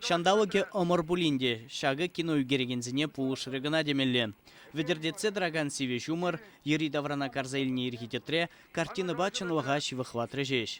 Ҫанталӑкӗ ӑмӑр пулин те ҫакӑ кино ӳкерекенсене пулӑшрӗ кӑна темелле. Вӗтӗртетсе тӑракан сивӗ ҫумӑр, йӗри-таврана карса илнӗ ирхи тӗтре картинӑпа чӑнлӑха ҫывӑхлатрӗ ҫеҫ.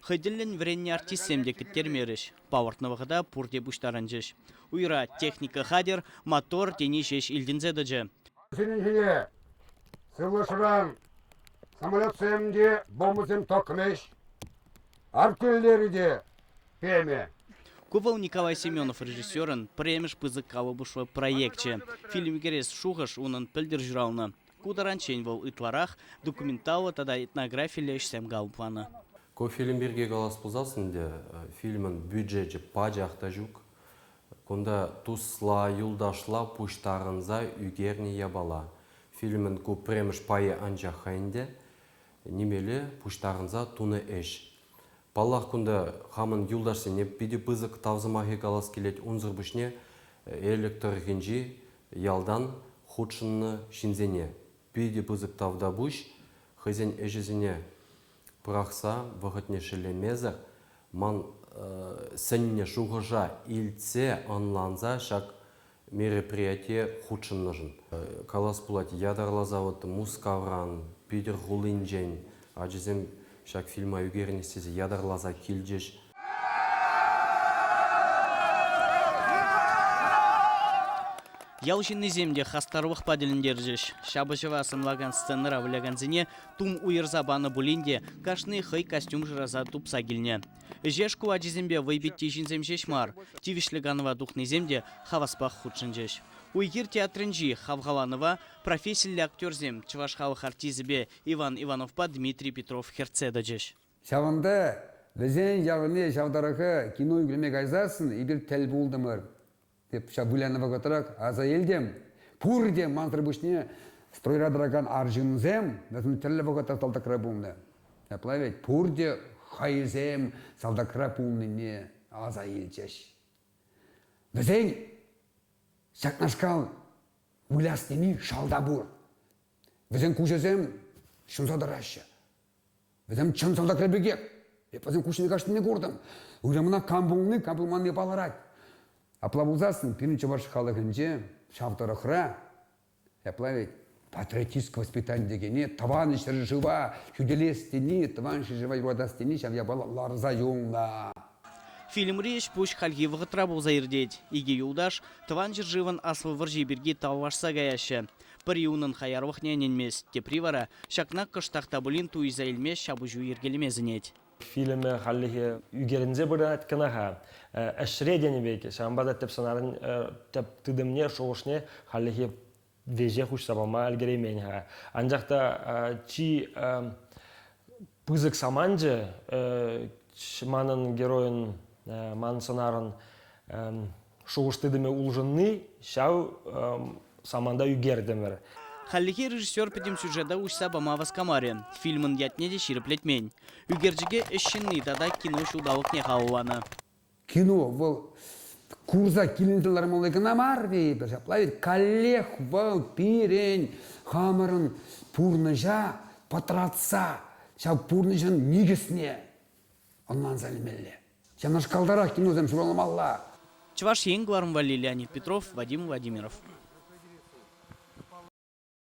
Хӑй тӗллӗн вӗреннӗ артистсем те кӗттермерӗҫ, палӑртнӑ вӑхӑта пурте пуҫтарӑнчӗҫ. Уйра техника хатӗр, мотор тени ҫеҫ илтӗнсе тӑчӗ. Вӗсенчен сывлӑшран самолетсем те, бомбӑсем тӑкрӗҫ. Артиллери те Пеме. Ку вӑл Николай Семенов режиссерӑн пӗрремӗш пысӑк калӑпӑшлӑ проекчӗ. Фильм кӗрес шухӑш унӑн пӗлтӗр ҫуралнӑ. Ку таранччен вӑл ытларах документаллӑ тата этнографиллӗ ӗҫсем калӑпланӑ. Ку фильм пирки калас пулсассӑн те фильмӑн бюджечӗ пачах та ҫук. Кунта тусла, юлташла пуҫтарӑнса ӳкернӗ япала. Фильмӑн ку пӗрремӗш пайӗ анчах-ха ӗнтӗ нимелле пуҫтарӑнса тунӑ ӗҫ. Паллах, кунта хамӑн юлташсене питӗ пысӑк тав сӑмахӗ калас килет унсӑр пуҫне Элӗк тӑрӑхӗнчи ялтан хутшӑннӑ ҫынсене. Питӗ пысӑк тав та пуҫ хӑйсен ӗҫӗсене пӑрахса вӑхӑтне шеллемесӗр, ман сӗннӗ шухӑша илтсе, ӑнланса ҫак мероприятие хутшӑннӑшӑн калас пулать, ятарласа вот Мускавран, Питӗр хулинчен ачасем ҫак фильма ӳкерӗнӗҫ тесе ятарласа килчӗҫ. Ял ҫыннисем те хастарлӑхпа тӗлӗнтерчӗҫ. Ҫапӑҫӑва сӑнлакан сценӑра вылякансене тум уйӑрса панӑ пулин те кашни хӑй костюм шыраса тупса килнӗ. Ӗҫе шкул ачисемпе вӑйпитти ҫынсем ҫеҫ мар, тивӗҫлӗ канӑва тухнисем те хаваспах хутшӑнчӗҫ. Уй-хир театрӗнчи хавхаланӑва профессиллӗ актерсем чӑваш халӑх артисӗпе Иван Ивановпа Дмитрий Петров хӗртсе тӑчӗҫ. Ҫавӑнпа вӗсен ялне ҫав тӑрӑха кино ӳкерме кайсассӑн эпир тӗл пултӑмӑр. Эп ҫав вылянӑ вӑхӑтрах аса илтӗм, пурте мансӑр пуҫне стройра тӑракан арҫынсем вӗсем тӗрлӗ вӑхӑтра салтакра пулнӑ. Ҫапла вӗт, пурте хайсем салтакра пулнине аса илчӗҫ. Вӗсен ҫакнашкал выляс тени шалта пур. Вӗсен куҫӗсем ҫунса тӑраҫҫӗ. Вӗсем чӑн салтакра пекех. Эп вӗсем куҫне каҫнине куртӑм. Уйрӑмна кам пулни, кам пулманни палӑрать. Апла пулсассӑн пирӗн чӑваш халӑхӗнче ҫав тӑрӑхра ҫапла ведь патриотическое воспитание текене тӑван ҫӗршыва хӳтӗлес тени, тӑван ҫӗршыва юратас тени ҫав япала ларса юлнӑ. Фильмри ӗҫ-пуҫ хальхи вӑхӑтра пулса иртет. Икӗ юлташ Тӑван ҫӗршывӑн Аслӑ вӑрҫи пирки тавлашса каяҫҫӗ. Пӗри унӑн хаярлӑхне ӗненмест, тепри вара ҫакна кӑштах та пулин туйса илме ҫапӑҫу йӗркелеме сӗнет. Фильмӗ хальлӗхе ӳкерӗнсе пырать кӑна-ха. Ӗҫре тенӗ пек, ҫавӑнпа та тӗп сӑнарӑн тӗп тытӑмне, шухӑшне хальлӗхе веҫех уҫса пама ӗлкӗреймен-ха. Анчах та чи пысӑк саманчӗ манӑн геройӑн, ман сӑнарӑн шухӑш-тытӑмӗ улшӑнни ҫав саманта ӳкертӗмӗр. Хальлӗхе режиссер пӗтӗм сюжета уҫса пама васкамарӗ, фильмӑн ятне те ҫирӗплетмен. Ӳкерчӗке ӗҫ ҫынни тата кино ҫулталӑкне халалланӑ. кино вӑл курса килӗнсе лармалли кӑна мар тейӗпӗр ҫапла ведь каллех вӑл пирӗн хамӑрӑн пурнӑҫа пӑтратса ҫав пурнӑҫӑн никӗсне ӑнланса илмелле ҫавнашкалтарах киносем ҫуралмалла Чӑваш Ен кӑларӑм валли Леонид Петров, Вадим Владимиров.